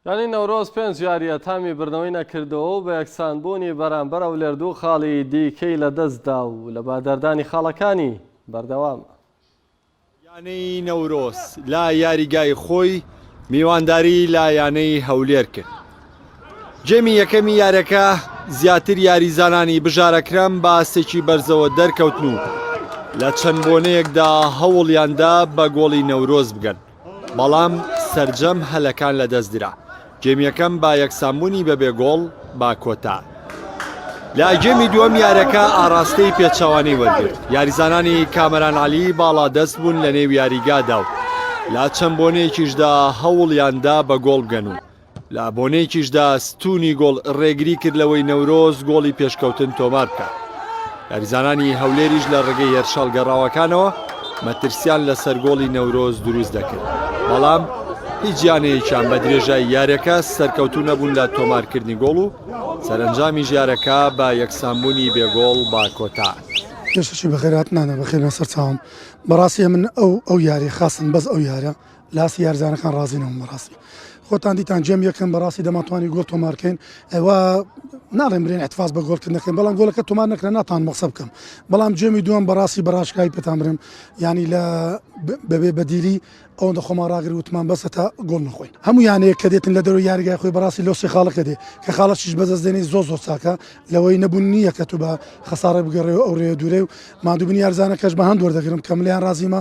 یانی نەورۆز پێنج یارییە تامی بردنەوەی نەکردووە و بە یەکسانبوونی بەرامبەر ئەولێر دوو خاڵی دیکەی لەدەستدا و لە بەهەدەردانی خاڵەکانی بەردەوامە. یانەی نەورۆز لە یاریگای خۆی میوانداری لە یانەی هەولێر کرد، گێمی یەکەمی یاریەکە زیاتر یاریزانانی بژارەکران بە ئاستێکی بەرزەوە دەرکەوتن و لە چەند بۆنەیەکدا هەوڵیاندا بە گۆڵی نەورۆز بگەن، بەڵام سەرجەم هەلەکان لەدەست درا گێمی یەکەم بە یەکسانبوونی بەبێ گۆڵ با کۆتا لە گێمی دووەم یارەکە ئاراستەی پێچوانەی وەرگرت یاریزانانی کامەران علی باڵا دەست بوون لە نێو یاریگادا و لا چەند بۆنەیەکیشدا هەوڵیاندا بە گۆڵ بگەن و لە بۆنەیەکیشدا ستونی گۆڵ ڕێگری کرد لەوەی نەورۆز گۆڵی پێشکەوتن تۆمار بکات. یاریزانانی هەولێریش لە ڕێگەی هێرشە هەڵگەڕاوەکانەوە مەترسیان لەسەر گۆڵی نەورۆز دروست دەکرد، بەڵام هیچ یانەیەکیان بە درێژای یاریەکە سەرکەوتوو نەبوون لە تۆمارکردنی گۆڵ و سەرەنجامیش یارەکە بە یەکسانبوونی بێ گۆڵ با کۆتاهات. پێشەکی بەخێرهاتنانە بەخێربێن سەرچاوم بەڕاستی ئەمن ئەو ئەو یاری خاستن بەس ئەو یارە لاسی یارزانەکان ڕازی نەبووم بەڕاستی خۆتان دیتان جێم یەکەم بەڕاستی دەماتوانی گۆڵ تۆمارکەین ئەوە ناڵێن برێن احتفاز بە گۆڵکردنەکەن بەڵام گۆلەکە تۆمان نەکرا ناتان مەقسە بکەم بەڵام جێمی دووەم بەڕاستی بەڕاشکای پێتان برم ینی لە بەبێ بەدیلی ئەوەندە خۆمان ڕاگر وتمان بەسە تا گۆڵ نخۆین هەموو یانەیە کە دێتن لە دەرەوە یاریگای خۆی بەڕاستی لۆسی خاڵەکە دێ کە خاڵەشیش بەزەستێنی زۆ زۆر چاکە لەوەی نەبوون نییە کە تو بە خەساڕێ بگەڕێ و ئەو رێ دوورێ و مادوبنی یارزانەکەش بە هەند وەردەگرم کەملیان رازیمە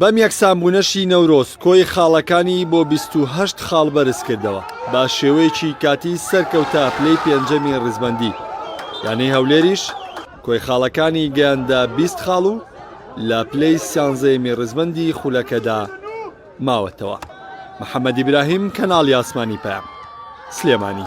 بەم یەکسانبوونەشی نەورۆز کۆی خاڵەکانی بۆ بیست و هەشت خاڵ بەرزکردەوە، بە شێوەیەکی کاتی سەرکەوتە پلەی پێنجەمی ڕیزبەندی، یانەی هەولێریش کۆی خاڵەکانی گەیاندە بیست خاڵ و لە پلەی سیانزەیەمی ڕیزبەندی خولەکەدا ماوەتەوە. محەمەد ئیبراهیم، کەناڵی ئاسمانی پەیام، سلێمانی.